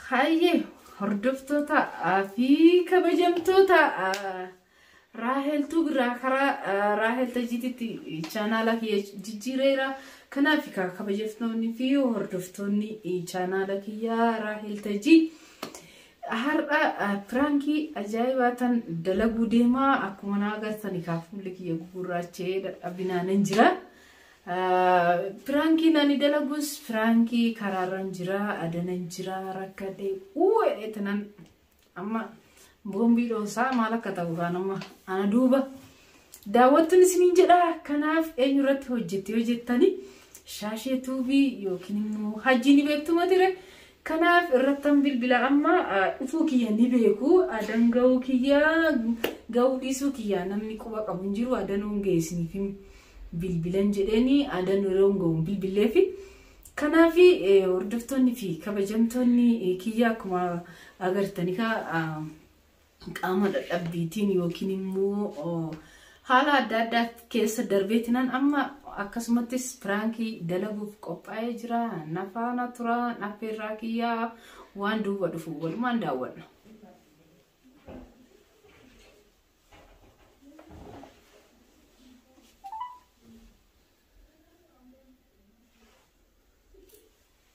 Hayyee hordoftoota fi kabajamtoota raaheltuu biraa karaa raahel tajiititti chaanaala kiyya jijjiireera. Kanaaf kabajamtoonni fi hordoftoonni chaanaala kiyya raahel tajii har'a piraankii ajaa'ibaa tan dalaguu deemaa akkuma naa agartan kaaf fuulli kiyya gugurraachee dadhabinaan hin jira. Piraankiin ani dalagus piraankii karaarran jira adanan jira rakkadhe uu jedhee tanan amma boombii dhoosaa maal akka ta'u kaan amma ana duuba daawwattuun isiniin jedha kanaaf eenyu irratti hojjetti yoo jettani shaashee tuubii yookiin immoo hajjii ni beektu matire Kanaaf irrattan bilbila amma dhufuu kiyya ni beeku adan ga'uu kiyya ga'uu dhiisuu kiyya namni quba qabu hin jiru adanoon ga'e isiniif hin bilbilan jedheeni adan yeroon ga'u hin bilbilleefi. Kanaaf hordoftoonni fi kabajamtoonni kiyya akkuma agartanikaa qaama dadhabbiitiin yookiin immoo haala adda addaa keessa darbeetinan amma akkasumattis piraankii dalaguuf qophaa'ee jira nafaana tura affeerraa kiyyaa waan duuba dhufu walumaan daawwanna.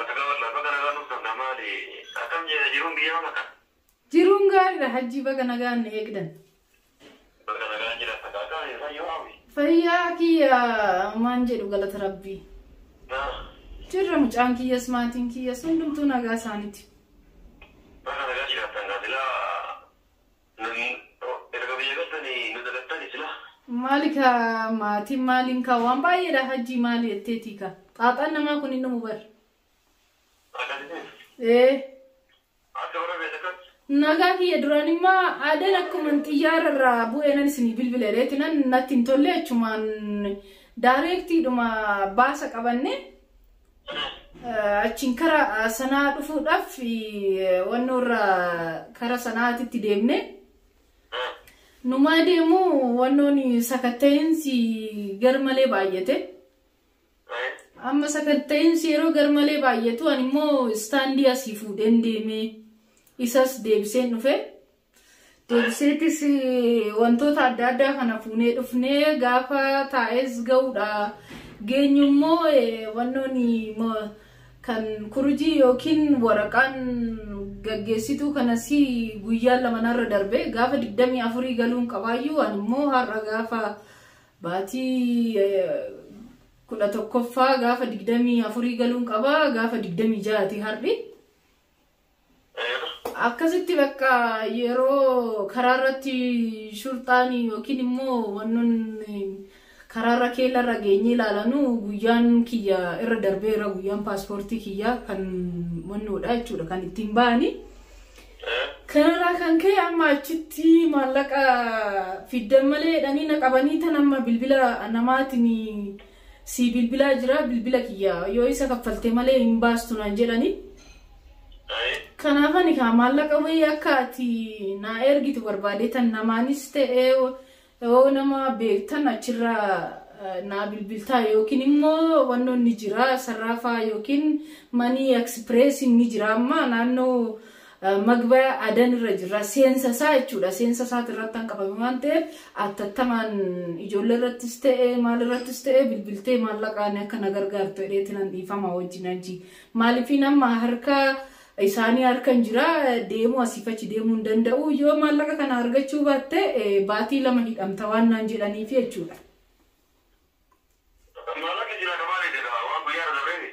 Nagaa wallah baga nagaan dhuftan kaa maali akkam jira jiruun biyya amma kan. Jiruun gaariidha hajjii baga nagaan nu eegdan. Baga nagaan jiraattan kaa akkami fayyoo hawwi. Fayyaa kiyya maan jedhu galata rabbii. Naa Jirra mucaan kiyyas maatiin kiyyas hundumtuu nagaa isaaniiti. baga nagaan jiraattan kaa silaa Nagii koo erga biyya galtani nu dagattani silaa. Maali kaa maatiin maaliin kaa waan baay'eedha hajjii maali jetteetii kaa xaaxaan namaa kun hin dhumu bar. Akkasitti Ee akka warra beela kan nagaa kiyya duraan immaa aadaan akkuman xiyyaara irraa bu'eenan isinii bilbile reetinan natti hin tolle achumaan daareektiidhuma baasa qabanne achiin kara sanaa dhufuudhaaf wanno irra kara sanaatitti deemne numaa deemu wannoon sakatta'insi garmalee baay'ate amma sakatta'insi yeroo garmalee baay'atu ani immoo istaandii asii fuudheen deeme isas deebiseen dhufe Deebiseetis wantoota adda addaa kana fuunee dhufnee gaafa taa'es ga'uudha. Geenyu immoo wannoon kan kurujii yookiin waraqaan gaggeessituu kanas guyyaa lamanarra darbe gaafa 24 galuun qabaayyuu ani immoo har'a gaafa baatii kudha tokkoffaa gaafa 24 galuun qabaa gaafa 26ti har'i. Akkasitti bakka yeroo karaa irratti shurxaan yookiin immoo wannoon karaa irra keella irra geenyee ilaalanu guyyaan kiyya irra darbeera guyyaan paaspoortii kiyyaa kan wannoodha jechuudha kan ittiin ba'ani. Kanarraa kan ka'e amma achitti maallaqa fiddan malee jedhanii na qabanii tan amma bilbila namaatiin Sii bilbilaa jira bilbila kiyya yoo isa kaffalte malee hin baastu naan jedhani. Kanaaf ani kaa maallaqa wayii akka ati naa ergitu barbaadee tan namaanis ta'ee yoo nama beektan achirra naa bilbiltaa yookiin immoo wannoon ni jira sarraafaa yookiin manii eksipireesiin ni jira amma naannoo Magbaya adan irra jirra seensa isaa jechuudha seensa isaati irratti kan qabame waan ta'eef attattamaan ijoollee irrattis ta'e maal irrattis ta'e bilbiltee maallaqaan akka na gargaartu jedheeti nan dhiifama wajjin hajji maalifiin amma harka isaanii harkan jira deemuu asiif achi deemuu hin danda'u yoo maallaqa kana argachuu baatte baatii lama hidhamta waan naan jedhaniif jechuudha. Maalatu jira ka maaliiti ka waan guyyaa irra darbeefi?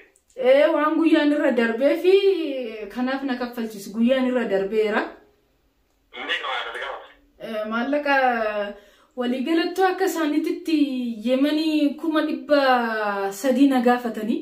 Ee waan guyyaan irra darbee fi kanaaf na kaffalchiisu guyyaan irra darbeera. Meeqa maal akkati gaafata? Eh, Maallaqa waliigalattuu akka isaaniititti yemanii kuma dhibba sadii na gaafatanii.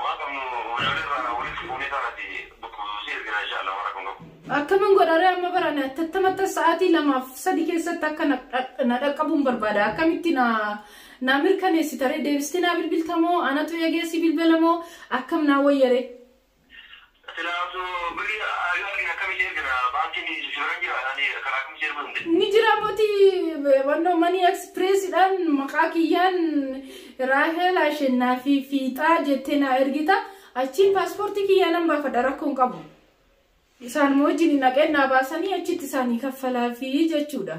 Waan qabnu meeshaalee irraa walitti fuunee sana si si ergina insha Allah waan rakkoon qabu. Akkamin godharee amma barane attattamattan sa'aatii lamaaf sadi keessatti akka na dha- na dhaqqabuun barbaada akkamitti na naa mirkaneessitaree deebistee naa bilbiltamoo anatu eegeessi bilbilamoo akkam naa wayyaree. Silaa osoo birri yoo argine akkamitti ergina baankiin si bira hin jiraa ani karaa akkamitti si erguu danda'e. Ni jira moti wanno money express dhaan maqaa kiyyaan Raahel Ashennaafi Fiixaa jettee naa ergita achiin paaspoortii kiyyaa nan baafadha rakkoo hin qabu. Isaan wajjin naqeen naa baasanii achitti isaanii kaffalaafi jechuudha.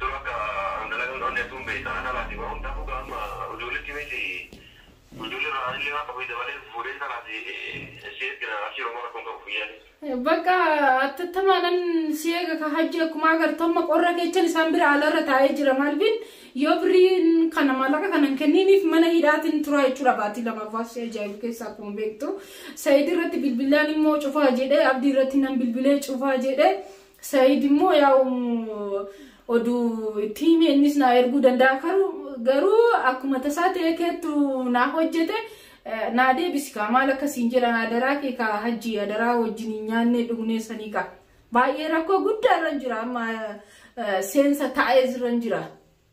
Dur akka an dalagan onne hedduun beeyta an alaati bahuun tahu gaa amma ujuullitti miti ujuulli irraa anillee waan qabu dabalee fuudhee intalaati si ergina abshiir homaa rakkoon qabu fiyyaani. Bakka attattamaanan si eega ka hajji akkuma agartu amma qorra keechan isaan bira alarra taa'ee jira maalifin yoo birriin kana maallaqa kanan kenniiniif mana hidhaatiin turaa jechuudha baatii lamaaf waan si ajaa'ibu keessa akkuma beektu sa'iid irratti bilbilaan immoo cufaa jedhee abdii irratti nan bilbilee cufaa jedhee Said immoo yaa'u oduu itti himi innis naa erguu danda'a garuu akkuma tasaa ta'ee keettu naa hojjete naa deebisi kaa maal akkasiin jedhan adaraa kee kaa hajji adaraa wajjin hin nyaannee dhugnee sanii kaa baay'ee rakkoo guddaa irra jira amma seensa taa'ee irra jira.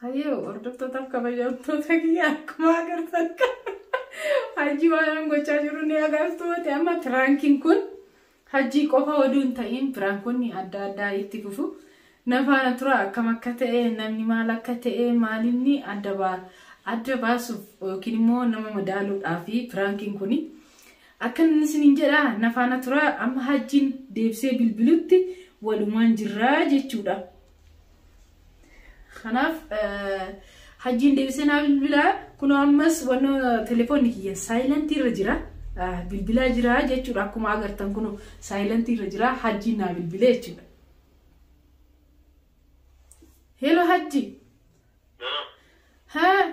Hayyoo hordoftoota kabajamtoota kiyya akkuma agartan hajji waan gochaa jiru ni agartu ta'e amma piraankiin kun hajjii qofa oduu hin ta'in piraankoonni adda addaa itti fufu nafaana tura akkam akka ta'e namni maal akka ta'e maalinni adda baasuuf yookiin immoo nama madaaluudhaaf piraankiin kun Akkanan isiniin jedha na faana turaa amma hajjiin deebisee bilbilutti walumaan jirraa jechuudha. Kanaaf hajjiin deebisee naa bilbilaa kunoo ammas wanno telefoonni kiyya saayilantii irra jira. Bilbilaa jira jechuudha akkuma agartan kunoo saayilantii irra jira hajjiin naa bilbilee jechuudha. Hello hajji. Haa.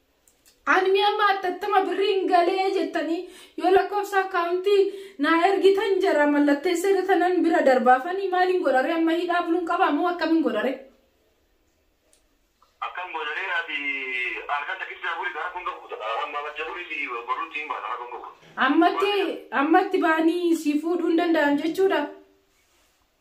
Anmi amma attattama birriin galee jettanii yoo lakkoofsa akkaawuntii naa ergitan jara mallatteessee datanan bira darbaafanii maaliin godhare amma hidhaa buluun qabaa moo akkamiin godhare? Akkam godhare ati halkan takkissaa buli gara kun gahuuta amma macha buli si boruutti hin baata kun gahuuta. Ammatti ammatti baanii si fuudhuu hin danda'an jechuudha.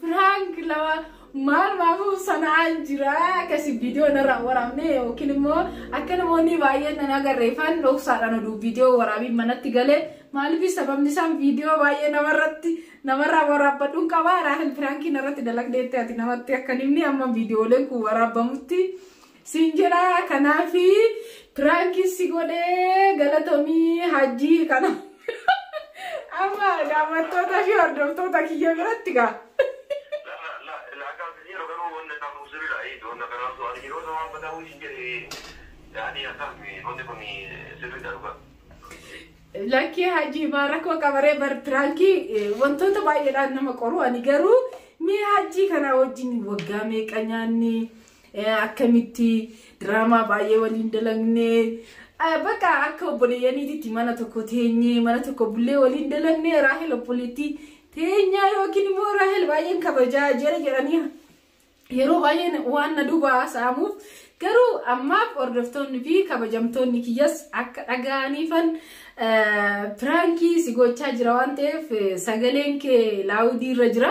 Prank lama maal maafuu sana'aa jira akkasi viidiyoo narraa waraabne yookiin immoo akka namoonni baay'een nan agarreefan dhoksaadhaan oduu viidiyoo waraabiin manatti gale maaliif sababni isaan viidiyoo baay'ee namarratti namarraa waraabbadhuun qaba raahil piraankii narratti dalagdeetti ati namatti akka nimni amma viidiyooleen kun waraabamutti Siin jedhaa kanaafi piraanki si godhee galatomii hajjii kana. Amma daawwattoota fi hordoftoota kiyya biratti gaa. Lakkii hajii maa rakkoo qabaree bar piraankii wantoota baay'eedhaan nama qoru ani garuu mee hajii kanaa wajjin waggaa meeqa nyaanni akkamitti diraamaa baay'ee waliin dalagne bakka akka obboleeyyaniititti mana tokko teenyee mana tokko bullee waliin dalagne raahel obboleettii teenyaa yookiin immoo raahel baay'een kabajaa jira jedhanii yeroo baay'een waan na duuba haasa'amuuf garuu ammaaf hordoftoonni fi kabajamtoonni kiyyas akka dhaga'aniifan piraankii si gochaa jira waan ta'eef sagaleen kee laawudii irra jira.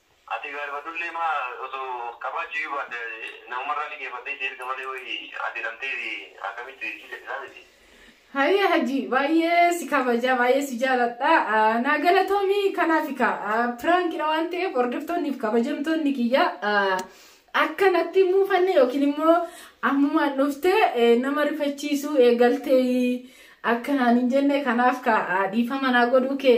Ati gaari badullee maa osoo qabaachuuyyuu baatte namumarraa liqeeffattee si erga malee wayi ati hidhamtee akkamitti si gadhisaa miti. Hayyee hajii baay'ee si kabaja baay'ee si jaaladha naa galatoomi kanaaf ka piraankidha waan ta'eef hordoftoonni fi kabajamtoonni kiyya akka natti hin muufanne yookiin immoo ammumaan dhufte nama rifachiisuu eegaltee akka naan hin jenne kanaaf ka dhiifama naa godhuu kee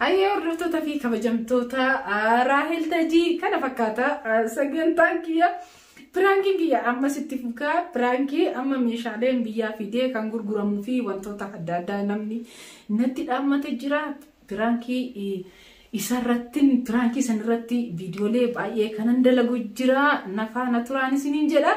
Hayyee hordoftoota fi kabajamtoota Raahel Tajii kana fakkaata sagantaan kiyya piraankiin kiyya ammas itti fukaa piraankii amma meeshaaleen biyyaa fidee kan gurguramuu fi wantoota adda addaa namni natti dhaammate jira piraankii isarrattin piraankii sanirratti viidiyoolee baay'ee kanan dalagu jira nafaana turaan isiniin jedha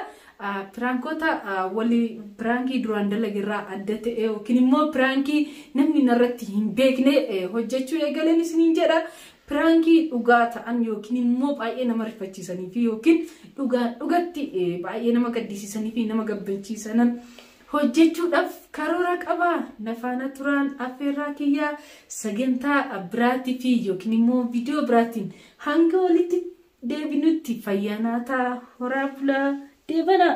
Piraankoota wali piraankii duraan dalagerraa adda ta'e yookiin immoo piraankii namni narratti hin beekne hojjechuu eegaleen isiniin jedha. Piraankii dhugaa ta'an yookiin immoo baay'ee nama rifachiisanii fi yookiin dhugaa dhugatti baay'ee nama gaddisiisanii fi nama gabbachiisanan hojjechuudhaaf karoora qaba. Nafaana turaan affeerraa kiyyaa sagantaa biraatii fi yookiin immoo viidiyoo biraatiin hanga walitti deebinutti fayyaa naa ta'a horaa bulaa deebanaa.